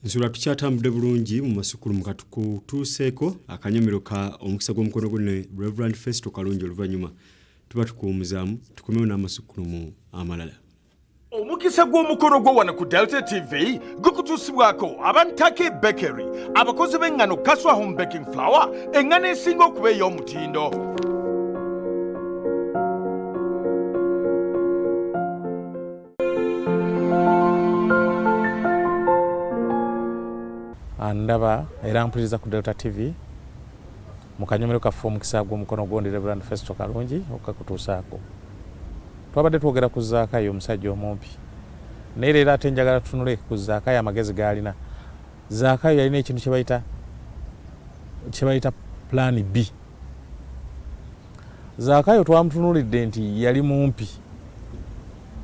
nsula tukyatambudde bulungi mu masukulumu katukutuuseeko akanyomero ka omukisa gw'omukono gwe ne reverand festo kalungi oluvannyuma tuba tukuwumuzaamu tukomewo n'amasukulumu amalala omukisa gw'omukolo gwo wano ku delta tv gukutuusibwako abantake bakery abakozi b'eŋŋano kaswa home baking flower eŋŋano esinga okuba ey'omutindo andaba era mpuliriza ku delta tv mu kanyomero kaffe omukisa gw'omukono gundi reverand festo kalungi okukakutuusaako twabadde twogera ku zaakayo omusajja omumpi naye leero ate njagala tunule ku zaakayo amagezi gaalina zaakayo yalina ekintu kyebayita kyebayita pulaani b Zaakayo twamutunuulidde nti yali mumpi,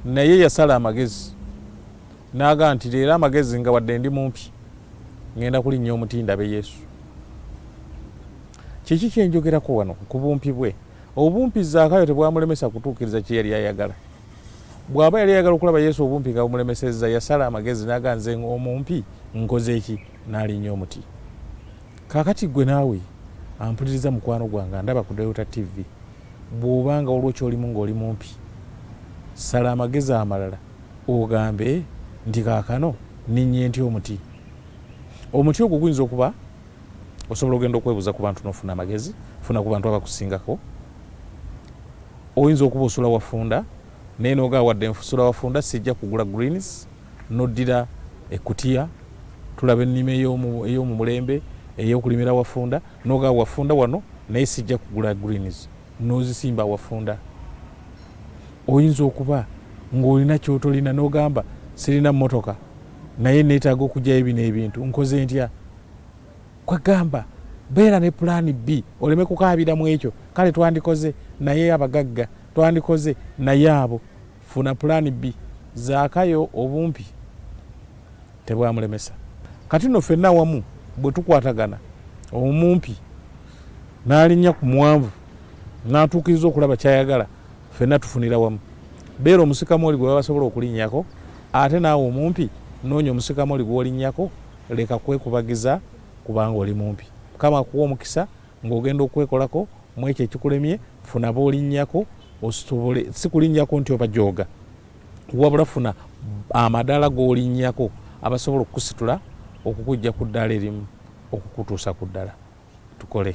naye yasala amagezi n'agamba nti, Leero amagezi nga wadde ndi mumpi, ŋŋenda kulinnya omuti ndabe Yesu. Kiki kye njogerako wano? Ku bumpi bwe. Obumpi Zaakayo tebwamulemesa kutuukiriza kye yali ayagala. Bw'aba yali ayagala okulaba Yesu obumpi nga bumulemesezza, yasala amagezi n'agamba, Nze omumpi nkoze ki? Nnaalinya omuti. Kakati ggwe naawe ampuliriza mukwano gwange andaba ku Delta TV, bw'oba nga waliwo ky'olimu ng'oli mumpi, sala amagezi amalala ogambe nti kaakano nninnye ntya omuti. Omuti ogwo guyinza okuba osobola ogenda okwebuuza ku bantu n'ofuna amagezi, funa ku bantu abakusingako. Oyinza okuba osula wafunda naye n'ogaa wadde nsula wafunda sijja kugula greens. noddira ekkutiya tulaba ennima ey'omu mulembe ey'okulimira wafunda noga wafunda wano naye sijja kugula greens nozisimba wafunda oyinza okuba ng'olina kyotolina nogamba sirina motoka naye neetaaga okugyayo bino ebintu nkoze ntya kwegamba beera ne pulaani b oleme kukaabira mu ekyo kale twandikoze naye abagagga twandikoze naye abo Funa plan B. Zaakayo obumpi tebwamulemesa. Kati nno ffenna awamu bwe tukwatagana omumpi n'alinnya ku muwanvu n'atuukiriza okulaba ky'ayagala ffenna tufunira wamu. Beera omusikamooli gwe baba basobola okulinnyako ate naawe omumpi noonya omusikamooli gw'olinnyako leka kwekubagiza kubanga oli mumpi. Mukama akuwe omukisa. ng'ogenda okwekolako mu ekyo ekikulemye funa b'olinnyako ositobole si kulinnyako nti obajooga wabula funa amadaala g'olinnyako abasobola okukusitula okukujja ku ddaala erimu okukutuusa ku ddala tukole